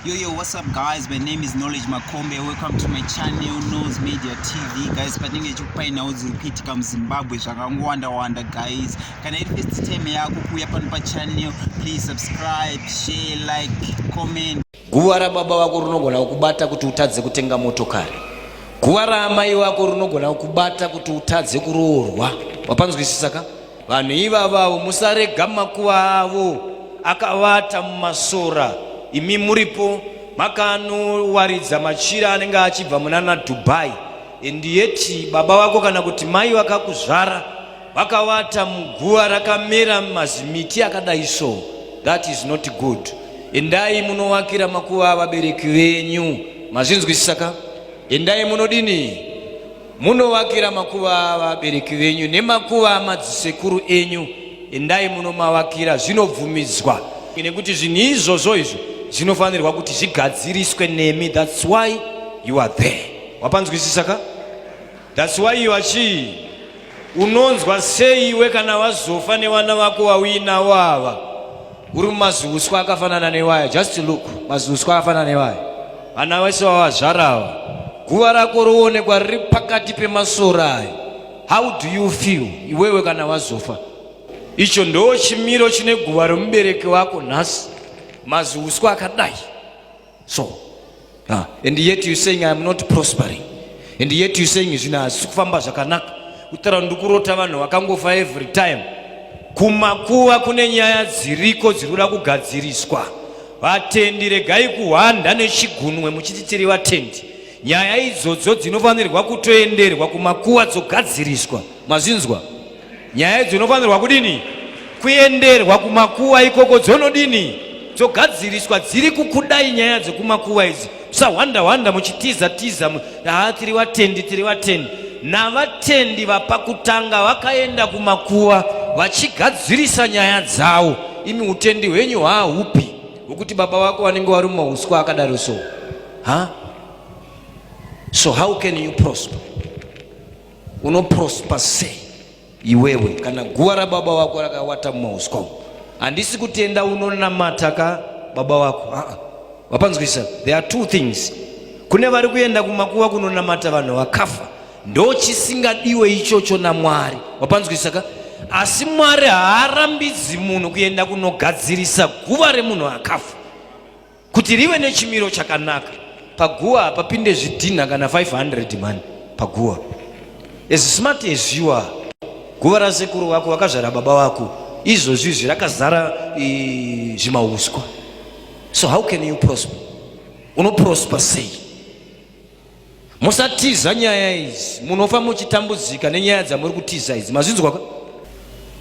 Yo, yo, what's up guys? My name is Knowledge Makombe. Welcome to my channel, Nose Media TV. Guys, patinenge chikupainawo dziri kuitika muZimbabwe zvakangowanda-wanda guys. Kana iri first time yako kuuya pano pachannel, please subscribe, share, like, comment. Guva rababa vako rinogona kukubata kuti utadze kutenga motokari. Guva raamai vako rinogona kukubata kuti utadze kuroorwa. Wapanzwisisa ka? Vanhu ivavavo musarega makuva avo akavata mumasora, imi muripo makanowaridza machira anenge achibva munana Dubai and yet baba vako kana kuti mai vakakuzvara vakavata muguva rakamera mazimiti akadai so that is not good. Endai munovakira makuva avabereki venyu, mazvinzwisisa ka? Endai munodini Munovakira makuva avabereki venyu nemakuva amadzisekuru enyu, endai munomavakira, zvinobvumidzwa nekuti zvinhu izvozvo izvo zvinofanirwa kuti zvigadziriswe nemi, that's why you are there. Wapanzwisisa ka? That's why you are chii? Unonzwa sei iwe kana wazofa nevana vako wauinawo ava? Uri mumaziuswa akafanana newaya just look maziuswa akafanana newaya vana vese vavazvarawa guva rako roonekwa riri pakati pemasora ayo how do you feel iwewe kana wazofa icho ndoo chimiro chine guva remubereki wako nhasi maziuswa akadai so ah, and yet you saying i am not prospering and yet you saying zvino hazvisi kufamba zvakanaka kutara ndikurota vanhu vakangofa every time kumakuva kune nyaya dziriko dziri kuda kugadziriswa vatendi regai kuhwanda nechigunwe muchiti tiri vatendi nyaya idzodzo dzinofanirwa kutoenderwa kumakuva dzogadziriswa mazvinzwa Nyaya idzo dzinofanirwa kudini? Kuenderwa kumakuva ikoko dzonodini? Dzogadziriswa dziri kukudai nyaya dzekumakuva idzi. Musahwanda hwanda muchitiza tiza haa tiri vatendi tiri vatendi. Navatendi vapakutanga vakaenda kumakuva vachigadzirisa nyaya dzavo. Imi utendi hwenyu hwaahupi hwekuti baba vako vanenge vari mumauswa akadaro so. Ha? So how can you prosper? unoprosper sei iwewe kana guva rababa wako rakawata mumauswa umu handisi kutenda unonamata ka baba wako ah, ah. wapanzwisa there are two things kune vari kuenda kumakuva kunonamata vanhu vakafa ndo chisingadiwe ichocho namwari wapanzwisa ka asi mwari haarambidzi munhu kuenda kunogadzirisa guva remunhu akafa kuti rive nechimiro chakanaka paguva hapapinde zvidhinha kana 500 mani paguva as smart as you are guva rasekuru vako vakazvara baba vako izvozvi izvi rakazara zvimauswa so how can you prosper unoprosper sei musatiza nyaya idzi munofa muchitambudzika nenyaya dzamuri kutiza idzi mazvinzwa ka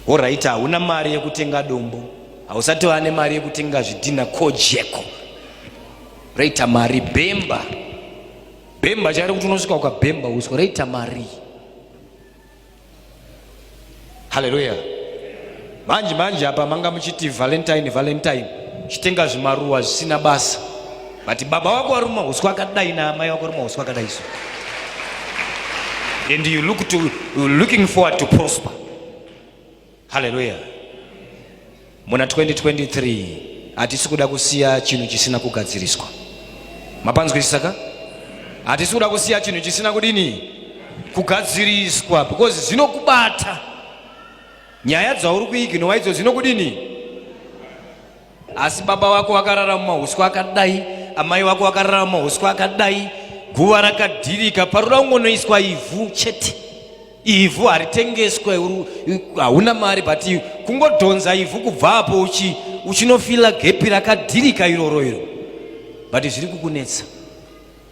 horaiti hauna mari yekutenga dombo hausati vane mari yekutenga zvidhina kojeko raita mari bhemba bhemba chari kuti unosvika ukabhemba uswa raita marii haleluya manje manje apa manga muchiti valentine valentine chitenga zvimaruwa zvisina basa but baba wako waruma huswa akadai naamai wako waruma huswa akadai so and you look to, looking forward to prosper Haleluya. Muna 2023 hatisi kuda kusiya chinhu chisina kugadziriswa. Mapanzwisisa ka? Hatisi kuda kusiya chinhu chisina kudini? Kugadziriswa because zvinokubata. Nyaya dzauri kuiginowa idzo zvinokudini? Asi baba wako wakarara mumahuswa akadai, amai wako wakarara mumahuswa akadai, guva rakadhirika, paroda kungonoiswa ivhu chete. Ivhu haritengeswe, hauna mari but kungodhonza ivhu kubva apo uchi uchinofila gepi rakadhirika iroro iro but zviri kukunetsa.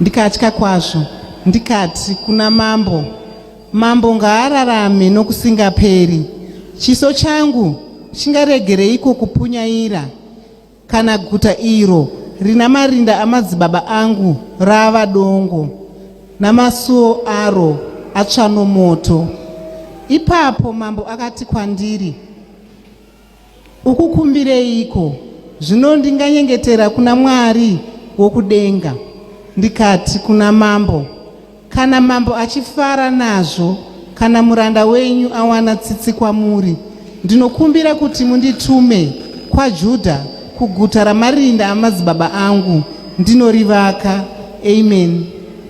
Ndikatya kwazvo ndikati kuna mambo, Mambo ngaararame nokusingaperi. Chiso changu chingaregereiko kupunyaira kana guta iro rina marinda amadzibaba angu rava dongo namasuo aro atsva nomoto? Ipapo mambo akati kwandiri, Ukukumbireiko? Zvino ndinganyengetera kuna Mwari wokudenga, ndikati kuna mambo, Kana mambo achifara nazvo, kana muranda wenyu awana tsitsi kwamuri, ndinokumbira kuti munditume kwaJudha, kuguta ramarinda amadzibaba angu, ndinorivaka. Ameni.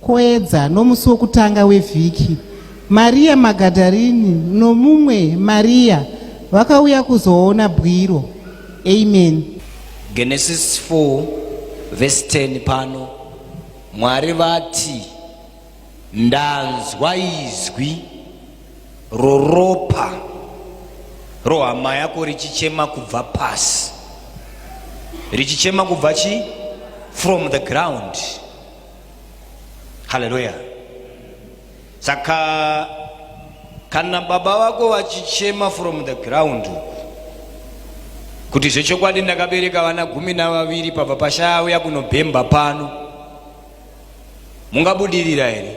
Kwayedza nomusi wokutanga wevhiki, Mariya Magadharini nomumwe Mariya vakauya kuzoona bwiro. Amen. Genesis 4 verse 10 pano Mwari vati ndanzwa izwi roropa rohama yako richichema kubva pasi richichema kubva chi from the ground haleluya saka kana baba vako vachichema from the ground kuti zvechokwadi ndakabereka vana gumi navaviri pabva pashaya uya kunobhemba pano mungabudirira here